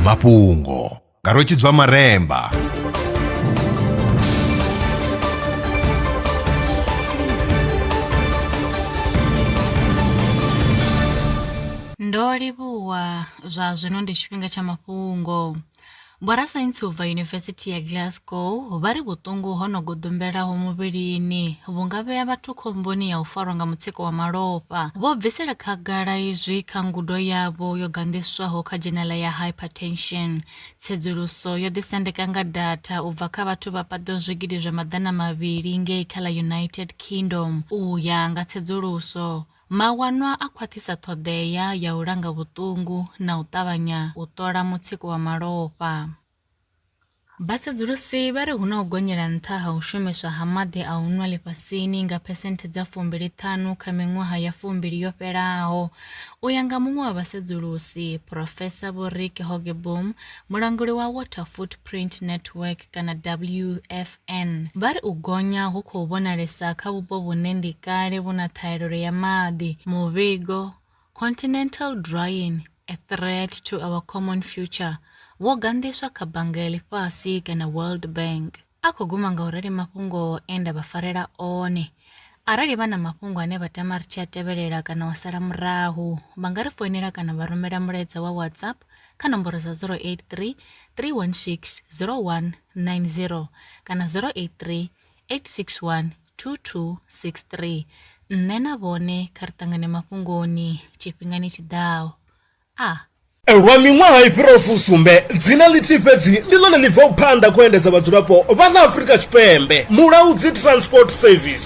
mafhungo nga rwetshidzwa maremba ndo livhuwa zwa zwino ndi tshifhinga tsha mafhungo Vhorasaintsi u bva Yunivesithi ya Glasgow vha ri vhuṱungu ho no goḓombelaho muvhilini vhu nga vhea vhathu khomboni ya u farwa nga mutsiko wa malofha. Vho bvisela khagala izwi kha ngudo yavho yo ganḓiswaho kha dzhenela ya Hypertension. Tsedzuluso yo ḓisendeka nga datha u bva kha vhathu vha paḓaho zwigidi zwa maḓana mavhili ngei kha ḽa United Kingdom u ya nga tsedzuluso Mawanwa a khwaṱhisa ṱhoḓea ya u langa vhuṱungu na u ṱavhanya u ṱola mutsiko wa malofha. Vhasedzulusi vha ri hu na u gonyela nṱha ha u shumiswa ha maḓi a u nwa ḽifhasini nga phesenthe dza fumbili ṱhanu kha miṅwaha ya fumbili yo fhelaho. U ya nga muṅwe wa vhasedzulusi, Phurofesa Vho Rick Hogebom, mulanguli wa Water Footprint Network kana WF, Ann, vha ri u gonya hu khou vhonalesa kha vhupo vhune ndi kale vhu na ṱhahelelo ya maḓi. Muvhigo, Continental Drying, A Threat to Our Common Future, wo ganḓiswa kha Bannga ya Ḽifhasi kana World Bank. A khou guma nga u rali mafhungo e nda vha farela one. Arali vha na mafhungo ane vha tama ri tshi a tevhelela kana u sala murahu, vha nga ri foinela kana vha rumela mulaedza wa WhatsApp kha nomboro dza 083 316 0190 kana 083 861 2263. Nṋe na vhone kha ri ṱangane mafhungoni tshifhingani tshi ḓaho. A. Lwa miṅwaha i fhiraho fusumbe, dzina ḽithihi fhedzi ndi ḽone ḽi bvaho phanḓa kha u endedza vhadzulapo vha ḽa Afrika Tshipembe, Mulaudzi Transport Service.